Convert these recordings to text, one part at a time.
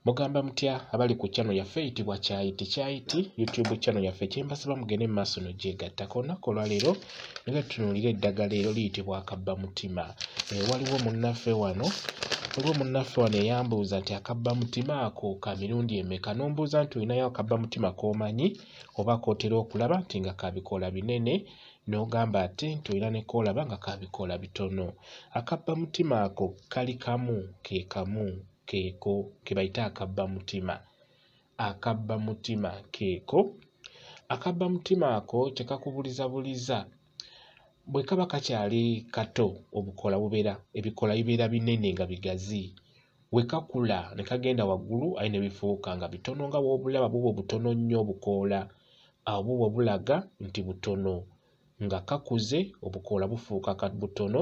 mugamba mutya abali ku chano yaffe eyitibwa kyayiti kyayiti youtube chano yaffe kyembasaba mugende mumaaso nogyegattako olunaku olwaleero nega tutunulira eddagala ero liyitibwa akabba mutima eh, waliwo munnaffe wano waliwo munnaffe wano eyambuuza nti akabba mutima ako ka mirundi emeka nombuuza nti olinayo akabba mutima komanyi oba kotera okulaba nti nga kabikoola binene n'ogamba ate nti olina ne koolaba nga kabikoola bitono akabba mutima ako kali kamu ke kamu keeko ke bayita akabba mutima akabba mutima keeko akabba mutima ako tekakubuliza buliza bwe kaba kakyali kato obukola bubeera ebikola bibeera binene nga bigazi we kakula ne kagenda waggulu aye ne bifuuka nga bitono nga bw'obulaba buba obutono nnyo obukoola awo buba bulaga nti butono nga kakuze obukoola bufuuka butono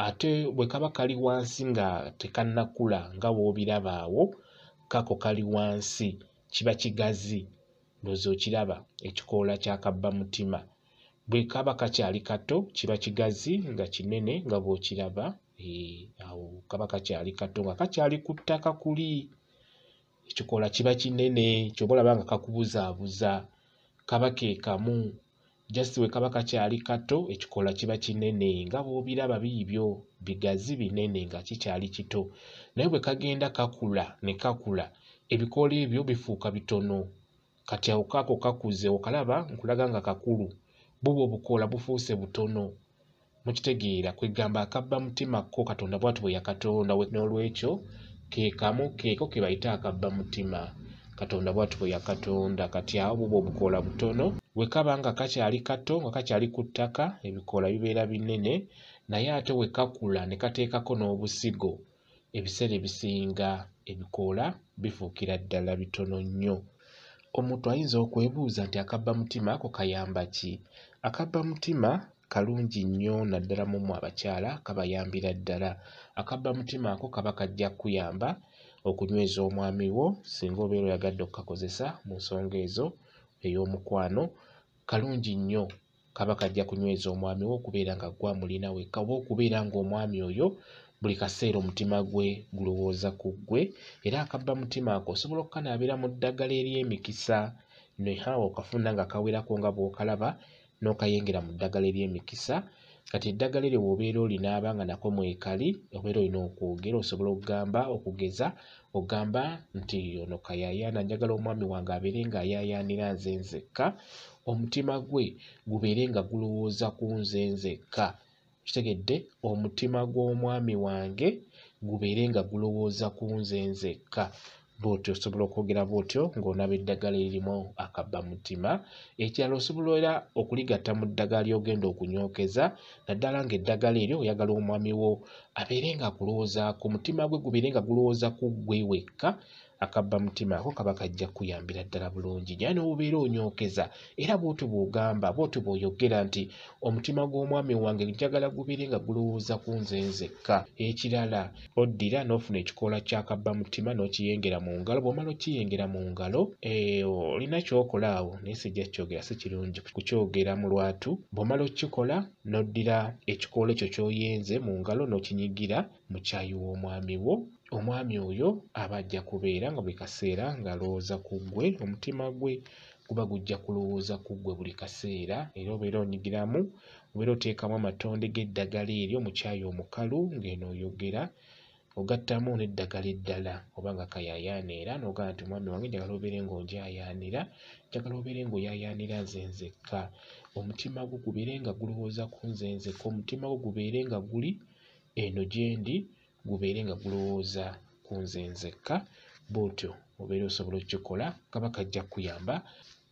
ate bwe kaba kali wansi nga tekannakula nga w'obiraba awo kako kali wansi kiba kigazi ndowooza okiraba ekikoola kya kabba mutima bwe kaba kakyali kato kiba kigazi nga kinene nga bw'okiraba eh, awo kaba kakyali kato nga kakyali ku ttaka kuli ekikoola kiba kinene kyoba olaba nga kakubuzaabuza kaba ke kamu just we kaba kakyali kato ekikoola kiba kinene nga bw'obiraba biibyo bigazi binene nga kikyali kito naye bwe kagenda kakula ne kakula ebikoola ebyo bifuuka bitono kati awo kaako kakuze okalaba nkulaga nga kakulu buba obukoola bufuuse butono mukitegeera kwegamba akabba mutima ko katonda bwati bwe yakatonda n'olwekyo kekamu keeko ke bayita akabba mutima katonda bwati bwe yakatonda kati awo buba obukoola butono we kaba nga kakyali kato nga kakyali ku ttaka ebikoola bibeera binene naye ate we kakula ne kateekako n'obusigo ebiseera ebisinga ebikoola bifuukira ddala bitono nnyo omuntu ayinza okwebuuza nti akabba mutima ako kayamba ki akabba mutima kalungi nnyo naddala mu mmwe abakyala kabayambira ddala akabba mutima ako kaba kajja kukuyamba okunyweza omwami wo singa obeera oyagadde okukakozesa mu nsonga ezo ey'omukwano kalungi nnyo kaba kajja kunyweza omwami we okubeera nga gwe amulina wekka oba okubeera ng'omwami oyo buli kaseera omutima gwe gulowooza ku ggwe era akabba mutima ako osobola okukanaabira mu ddagala ery'emikisa nehawa okafuna nga kawerako nga bw'okalaba n'okayengera mu ddagala ery'emikisa kati eddagala eryo bw'obeera olinaaba nga nako mwekali obeera olina okwogera osobola okugamba okugeza ogamba nti ono kayayaana njagala omwami wange abeere ng'ayayaanira nze nzekka omutima gwe gubeere nga gulowooza ku nze nzekka kitegedde omutima gw'omwami wange gubeere nga gulowooza ku nze nzekka bwotyo osobola okwogera bwotyo ng'onaba eddagala eririmu akabba mutima ekirala osobola era okuligatta mu ddagala ly'ogenda okunyookeza naddala ng'eddagala eryo oyagala omwami wo abeere nga akulowoozaako omutima gwe gubeere nga gulowooza ku ggwe wekka akabba mutima ako kaba kajja kuyambira ddala bulungi naye n'obubeera onyookeza era bw'otyo bw'ogamba bw'otyo bw'oyogera nti omutima gw'omwami wange njagala gubeere nga gulowooza ku nze nzekka ekirala oddira n'ofuna ekikoola ky'akabba mutima n'okiyengera mu ngalo bw'omala okiyengera mu ngalo eh, olina ky'okola awo naye sijja kyogera si kirungi kukyogera mu lwatu bw'omala okukikola n'oddira ekikoola ekyo ky'oyenze mu ngalo n'okinyigira mu kyayi w'omwami wo omwami oyo aba ajja kubeera nga buli kaseera ng'alowooza ku ggwe omutima gwe guba gujja kulowooza ku ggwe buli kaseera era obeera onyigiramu obeera oteekamu amatonde g'eddagala eryo mu kyayi omukalu ng'eno oyogera ogattamu n'eddagala eddala oba nga kayaayaana era n'ogamba nti omwami wange njagala obeere ng'onjayaanira njagala obeere ng'oyayaanira nze nzekka omutima gwo gubeere nga gulowooza ku nze nzekka omutima gwo gubeere nga guli eno gye ndi gubeere nga gulowooza ku nze nzekka bw'otyo obeera osobola okukikola kaba kajja kukuyamba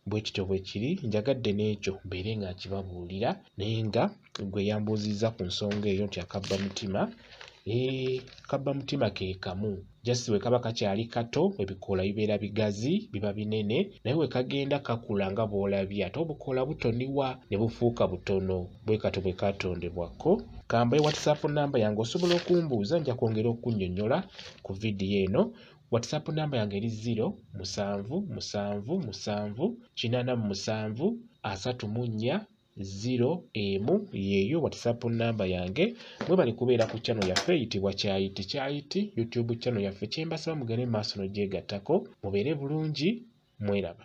bwe kityo bwe kiri njagadde n'ekyo mbeere nga nkibabuulira naye nga gwe yambuuzizza ku nsonga eyo nti akabba mutima eh, kabba mutima ke kamu just bwe kaba kakyali kato ebikoola bibeera bigazi biba binene naye bwe kagenda kakula nga bw'olabye ate obukoola butoniwa ne bufuuka butono bwe katyo bwe kaatondebwa ko kambaye whatsapp namba yange osobola okumbuuza nja kwongera okunnyonnyola ku vidiyo eno whatsapp namba yange eri 0 musanvu musanvu musanvu kinaana mu musanvu asatu mu nnya 0 emu yeeyo whatsapp namba yange mwebali kubeera ku chano yaffe eyitibwa kyayiti kyayiti youtube chano yaffe kyembasaba mugende maaso nogyegattako mubeere bulungi mweraba